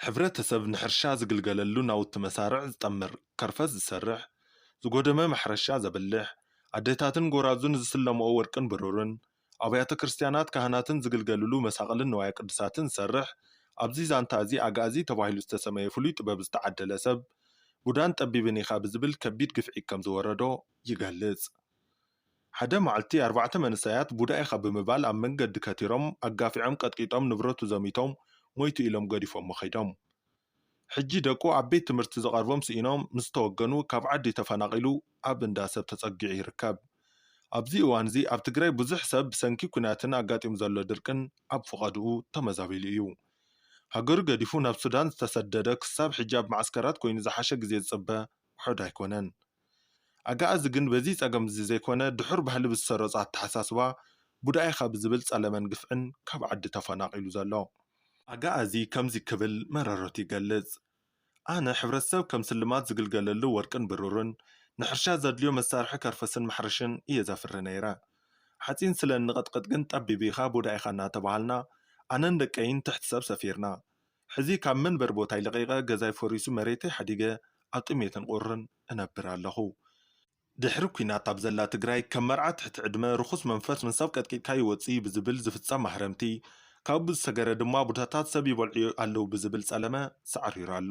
ሕብረተሰብ ንሕርሻ ዝግልገለሉ ናውቲ መሳርዕ ዝጠምር፣ ከርፈስ ዝሰርሕ፣ ዝጎደመ ማሕረሻ ዘብልሕ፣ ኣደታትን ጎራዙን ዝስለምኦ ወርቅን ብሩርን፣ ኣብያተ ክርስትያናት ካህናትን ዝግልገሉሉ መሳቕልን ንዋየ ቅዱሳትን ዝሰርሕ፣ ኣብዚ ዛንታ እዚ ኣግኣዚ ተባሂሉ ዝተሰመየ ፍሉይ ጥበብ ዝተዓደለ ሰብ፣ ቡዳን ጠቢብን ኢኻ ብዝብል ከቢድ ግፍዒ ከም ዝወረዶ ይገልጽ። ሓደ መዓልቲ ኣርባዕተ መንእሰያት ቡዳ ኢኻ ብምባል ኣብ መንገዲ ከቲሮም ኣጋፊዖም ቀጥቂጦም ንብረቱ ዘሚቶም ሞይቱ ኢሎም ገዲፎሞ ከይዶም። ሕጂ ደቁ ኣብ ቤት ትምህርቲ ዝቐርቦም ስኢኖም ምስ ተወገኑ ካብ ዓዲ ተፈናቒሉ ኣብ እንዳ ሰብ ተጸጊዑ ይርከብ። ኣብዚ እዋንዚ ኣብ ትግራይ ብዙሕ ሰብ ብሰንኪ ኲናትን ኣጋጢሙ ዘሎ ድርቅን ኣብ ፍቐድኡ ተመዛቢሉ እዩ። ሃገሩ ገዲፉ ናብ ሱዳን ዝተሰደደ ክሳብ ሕጂ ኣብ መዓስከራት ኮይኑ ዝሓሸ ግዜ ዝጽበ ውሑድ ኣይኮነን። ኣገኣዚ ግን በዚ ጸገምዚ ዘይኮነ ድሑር ባህሊ ብዝሰረጾ ኣተሓሳስባ ቡዳ ኢኻ ብዝብል ጸለመን ግፍዕን ካብ ዓዲ ተፈናቒሉ ዘሎ። ኣገኣዚ ከምዚ ክብል መረረቱ ይገልጽ፣ ኣነ ሕብረተሰብ ከም ስልማት ዝግልገለሉ ወርቅን ብሩርን፣ ንሕርሻ ዘድልዮ መሳርሒ ከርፈስን ማሕረሽን እየ ዘፍሪ ነይረ። ሓጺን ስለ እንቕጥቕጥ ግን ጠቢብ ኢኻ ቡዳ ኢኻ እናተባሃልና ኣነን ደቀይን ትሕቲ ሰብ ሰፊርና። ሕዚ ካብ መንበሪ ቦታይ ለቒቐ ገዛይ ፈሪሱ መሬተይ ሓዲገ ኣብ ጥሜትን ቁርን እነብር ኣለኹ። ድሕሪ ኲናት ኣብ ዘላ ትግራይ ከም መርዓ ትሕቲ ዕድመ፣ ርኹስ መንፈስ ን ሰብ ቀጥቂጥካ ይወጽእ'ዩ ብዝብል ዝፍጸም ማህረምቲ፣ ካብኡ ብዝሰገረ ድማ ቡታታት ሰብ ይበልዑ ኣለዉ ብዝብል ጸለመ ሳዕሪሩ ኣሎ።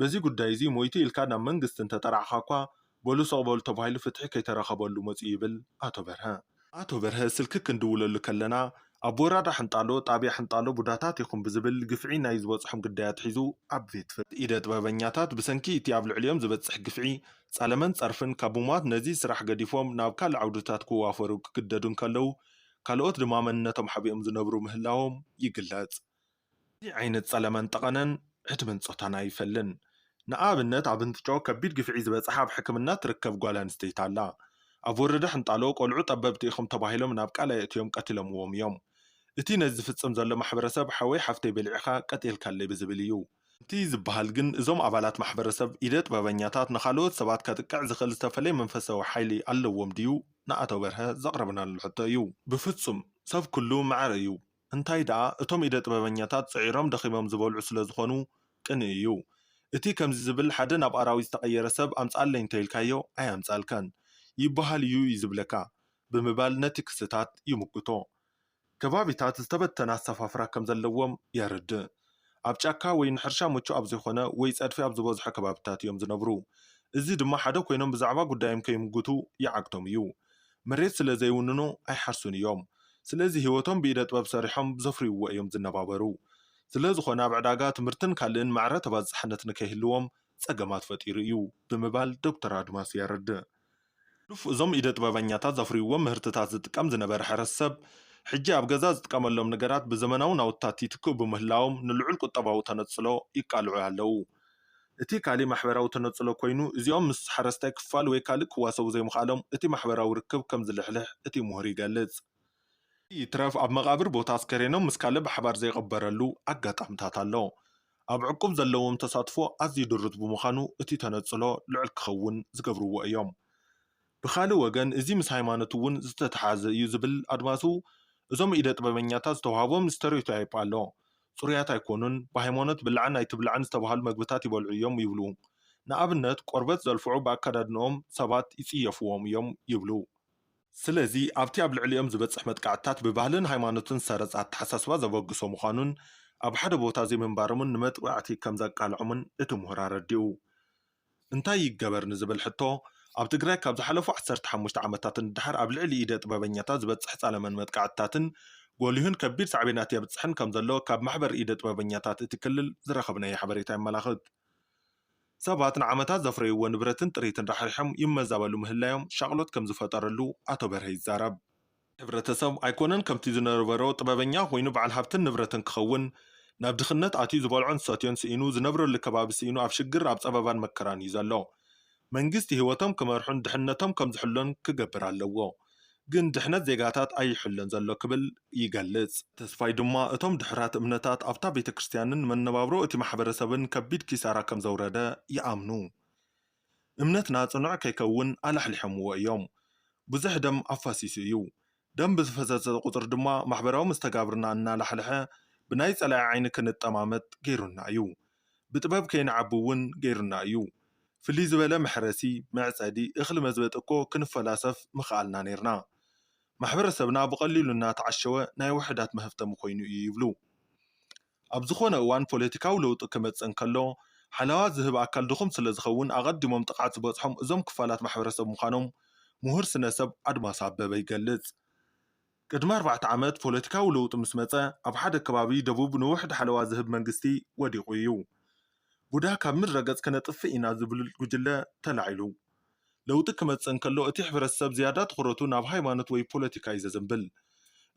በዚ ጉዳይ'ዚ ሞይቱ ኢልካ ናብ መንግስቲ እንተጠራዕኻ'ኳ፣ በሉ ስቕ በሉ ተባሂሉ ፍትሒ ከይተረኸበሉ መጺኡ ይብል ኣቶ በርሀ። ኣቶ በርሀ ስልኪ ክንድውለሉ ከለና፣ ኣብ ወራዳ ሕንጣሎ፣ ጣብያ ሕንጣሎ ቡዳታት ኢኹም ብዝብል ግፍዒ ናይ ዝበጽሖም ግዳይ ኣትሒዙ ኣብ ቤት። ኢደ ጥበበኛታት ብሰንኪ እቲ ኣብ ልዕሊኦም ዝበጽሕ ግፍዒ፣ ጸለመን ጸርፍን ካብ ምሟት ነዚ ስራሕ ገዲፎም ናብ ካልእ ዓውድታት ክዋፈሩ ክግደዱ እንከለዉ፣ ካልኦት ድማ መንነቶም ሓቢኦም ዝነብሩ ምህላዎም ይግለጽ። እዚ ዓይነት ጸለመን ጠቐነን ዕድመን ጾታን ኣይፈልን። ንኣብነት ኣብ እንትጮ ከቢድ ግፍዒ ዝበጽሓ ኣብ ሕክምና ትርከብ ጓል ኣንስተይቲ ኣላ። ኣብ ወረዳ ሕንጣሎ ቆልዑ ጠበብቲ ኢኹም ተባሂሎም ናብ ቃላይ ኣእትዮም ቀቲሎምዎም እዮም። እቲ ነዚ ዝፍጽም ዘሎ ማሕበረሰብ ሓወይ ሓፍተይ በሊዕኻ ቀቲልካለይ ብዝብል እዩ። ከምቲ ዝበሃል ግን እዞም ኣባላት ማሕበረሰብ ኢደ ጥበበኛታት ንኻልኦት ሰባት ከጥቅዕ ዝኽእል ዝተፈለየ መንፈሳዊ ሓይሊ ኣለዎም ድዩ ንኣቶ በርሀ ዘቕረብናሉ ሕቶ እዩ። ብፍጹም! ሰብ ኩሉ ማዕረ እዩ። እንታይ ደኣ እቶም ኢደ ጥበበኛታት ጽዒሮም ደኺሞም ዝበልዑ ስለ ዝኾኑ ቅንኢ እዩ። እቲ ከምዚ ዝብል ሓደ ናብ ኣራዊት ዝተቐየረ ሰብ ኣምጽኣለይ እንተ ኢልካዮ ኣየምጽኣልካን ይበሃል እዩ እዩ ዝብለካ ብምባል ነቲ ክስታት ይምጉቶ። ከባቢታት ዝተበተነ ኣሰፋፍራ ከም ዘለዎም የረድእ። ኣብ ጫካ ወይ ንሕርሻ ምቹእ ኣብ ዘይኮነ ወይ ጸድፊ ኣብ ዝበዝሖ ከባቢታት እዮም ዝነብሩ። እዚ ድማ ሓደ ኮይኖም ብዛዕባ ጉዳዮም ከይምጉቱ ይዓግቶም እዩ። መሬት ስለ ዘይውንኑ ኣይሓርሱን እዮም። ስለዚ ህይወቶም ብኢደ ጥበብ ሰሪሖም ብዘፍርይዎ እዮም ዝነባበሩ። ስለ ዝኾነ ኣብ ዕዳጋ፣ ትምህርትን ካልእን ማዕረ ተባጻሕነት ንከይህልዎም ጸገማት ፈጢሩ እዩ ብምባል ዶክተር ኣድማሱ የረድእ። ሕሉፍ እዞም ኢደ ጥበበኛታት ዘፍርይዎም ምህርትታት ዝጥቀም ዝነበረ ሕረሰብ፣ ሕጂ ኣብ ገዛ ዝጥቀመሎም ነገራት ብዘመናዊ ናውትታት ይትክኡ ብምህላዎም ንልዑል ቁጠባዊ ተነጽሎ ይቃልዑ ኣለዉ። እቲ ካልእ ማሕበራዊ ተነጽሎ ኮይኑ፣ እዚኦም ምስ ሓረስታይ ክፋል ወይ ካልእ ክዋሰቡ ዘይምኽኣሎም እቲ ማሕበራዊ ርክብ ከም ዝልሕልሕ እቲ ምሁር ይገልጽ። እዚ ይትረፍ ኣብ መቓብር ቦታ ኣስከሬኖም ምስ ካልእ ብሓባር ዘይቕበረሉ ኣጋጣምታት ኣሎ። ኣብ ዕቁብ ዘለዎም ተሳትፎ ኣዝዩ ድሩት ብምዃኑ እቲ ተነጽሎ ልዑል ክኸውን ዝገብርዎ እዮም። ብኻልእ ወገን እዚ ምስ ሃይማኖት እውን ዝተተሓሓዘ እዩ ዝብል ኣድማሱ፣ እዞም ኢደ ጥበበኛታት ዝተውሃቦም ስተሪዮታይፕ ኣሎ፣ ጽሩያት ኣይኮኑን፣ ብሃይማኖት ብላዕን ኣይትብላዕን ዝተብሃሉ መግብታት ይበልዑ እዮም ይብሉ። ንኣብነት ቆርበት ዘልፍዑ ብኣከዳድንኦም ሰባት ይጽየፍዎም እዮም ይብሉ። ስለዚ ኣብቲ ኣብ ልዕሊኦም ዝበጽሕ መጥቃዕትታት ብባህልን ሃይማኖትን ዝተሰረጸ ኣተሓሳስባ ዘበግሶ ምዃኑን ኣብ ሓደ ቦታ ዘይምንባሮምን ንመጥቓዕቲ ከም ዘቃልዖምን እቲ ምሁር ኣረዲኡ። እንታይ ይገበር ንዝብል ሕቶ፣ ኣብ ትግራይ ካብ ዝሓለፉ ዓሰርተ ሓሙሽተ ዓመታት ንደሓር ኣብ ልዕሊ ኢደ ጥበበኛታት ዝበጽሕ ጸለመን መጥቃዕትታትን ጎሊሁን ከቢድ ሳዕቤናት የብጽሕን ከም ዘሎ ካብ ማሕበር ኢደ ጥበበኛታት እቲ ክልል ዝረኸብናዮ ሓበሬታ የመላኽት። ሰባት ንዓመታት ዘፍረይዎ ንብረትን ጥሪትን ራሕሪሖም ይመዛበሉ ምህላዮም ሻቕሎት ከም ዝፈጠረሉ ኣቶ በርሀ ይዛረብ። ሕብረተሰብ ኣይኮነን ከምቲ ዝነበሮ ጥበበኛ ኮይኑ በዓል ሃብትን ንብረትን ክኸውን፣ ናብ ድኽነት ኣትዩ ዝበልዖን ዝሰትዮን ስኢኑ፣ ዝነብረሉ ከባቢ ስኢኑ ኣብ ሽግር፣ ኣብ ጸበባን መከራን እዩ ዘሎ። መንግስቲ ህይወቶም ክመርሑን ድሕነቶም ከም ዝሕሎን ክገብር ኣለዎ። ግን ድሕነት ዜጋታት ኣይሕሎን ዘሎ ክብል ይገልጽ። ተስፋይ ድማ እቶም ድሑራት እምነታት ኣብታ ቤተ ክርስትያንን መነባብሮ እቲ ማሕበረሰብን ከቢድ ኪሳራ ከም ዘውረደ ይኣምኑ። እምነትና ጽኑዕ ከይከውን ኣላሕሊሖምዎ እዮም። ብዙሕ ደም ኣፋሲሱ እዩ። ደም ብዝፈሰሰ ቁጽሪ ድማ ማሕበራዊ መስተጋብርና እናላሕልሐ ብናይ ጸላኢ ዓይኒ ክንጠማመት ገይሩና እዩ። ብጥበብ ከይንዓቢ እውን ገይሩና እዩ። ፍልይ ዝበለ መሕረሲ፣ መዕጸዲ፣ እኽሊ መዝበጢ እኮ ክንፈላሰፍ ምኸኣልና ነይርና። ማሕበረሰብና ብቐሊሉ እናተዓሸወ ናይ ውሑዳት መሀብተሚ ኮይኑ እዩ ይብሉ። ኣብ ዝኾነ እዋን ፖለቲካዊ ለውጢ ክመጽእ እንከሎ ሓለዋ ዝህብ ኣካል ድኹም ስለዝኸውን ኣቐዲሞም ጥቕዓት ዝበጽሖም እዞም ክፋላት ማሕበረሰብ ምዃኖም ምሁር ስነ-ሰብ ኣድማሱ ኣበበ ይገልጽ። ቅድሚ ኣርባዕተ ዓመት ፖለቲካዊ ለውጢ ምስ መጸ፣ ኣብ ሓደ ከባቢ ደቡብ ንውሕድ ሓለዋ ዝህብ መንግስቲ ወዲቑ እዩ። ቡዳ ካብ ምድረ ገጽ ከነጥፍእ ኢና ዝብል ጉጅለ ተላዒሉ። ለውጢ ክመጽእ እንከሎ እቲ ሕብረተሰብ ዝያዳ ትኹረቱ ናብ ሃይማኖት ወይ ፖለቲካ እዩ ዘዘንብል።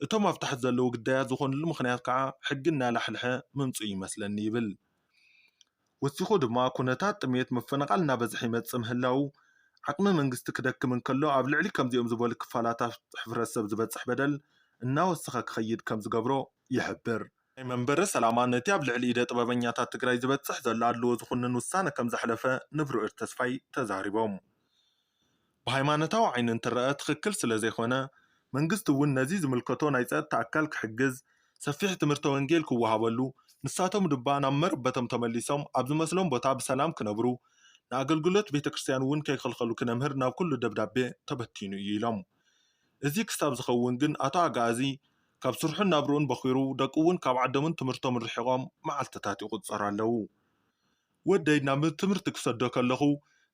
እቶም ኣብ ታሕቲ ዘለዉ ግዳያት ዝኾንሉ ምኽንያት ከኣ ሕጊ እናላሕልሐ ምምጽኡ ይመስለኒ ይብል። ወሲኹ ድማ ኩነታት ጥምየት ምፍንቓል እናበዝሐ ይመፅእ ምህላዉ፣ ዓቕሚ መንግስቲ ክደክም እንከሎ ኣብ ልዕሊ ከምዚኦም ዝበሉ ክፋላታት ሕብረተሰብ ዝበፅሕ በደል እናወሰኸ ክኸይድ ከምዝገብሮ ይሕብር። ናይ መንበረ ሰላማ ነቲ ኣብ ልዕሊ ኢደ ጥበበኛታት ትግራይ ዝበፅሕ ዘሎ ኣድልዎ ዝኹንን ውሳነ ከምዘሕለፈ ንብርዕድ ተስፋይ ተዛሪቦም። ብሃይማኖታዊ ዓይኒ እንትረኣ ትኽክል ስለዘይኮነ፣ መንግስቲ እውን ነዚ ዝምልከቶ ናይ ፀጥታ ኣካል ክሕግዝ፣ ሰፊሕ ትምህርተ ወንጌል ክወሃበሉ፣ ንሳቶም ድባ ናብ መረበቶም ተመሊሶም ኣብ ዝመስሎም ቦታ ብሰላም ክነብሩ፣ ንኣገልግሎት ቤተክርስትያን እውን ከይኽልኸሉ ክነምህር ናብ ኩሉ ደብዳቤ ተበቲኑ እዩ ኢሎም። እዚ ክሳብ ዝኸውን ግን ኣቶ ኣግኣዚ ካብ ስርሑን ናብርኡን በዂሩ፣ ደቁ እውን ካብ ዓዶምን ትምህርቶምን ርሒቖም መዓልትታት ይቑፀሩ ኣለዉ። ወደይ ናብ ትምህርቲ ክሰዶ ከለኹ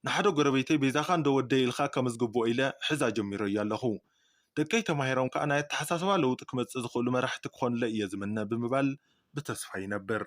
ንሓደ ጎረቤተይ በይዛኻ እንዶ ወደይ ኢልካ ከምዝግብኦ ኢለ ሕዛ ጀሚረዮ ኣለኹ። ደቀይ ተማሂሮም ከኣ ናይ ኣተሓሳስባ ለውጢ ክመጽእ ዝኽእሉ መራሕቲ ክኾኑለይ እየ ዝምነ ብምባል ብተስፋ ይነብር።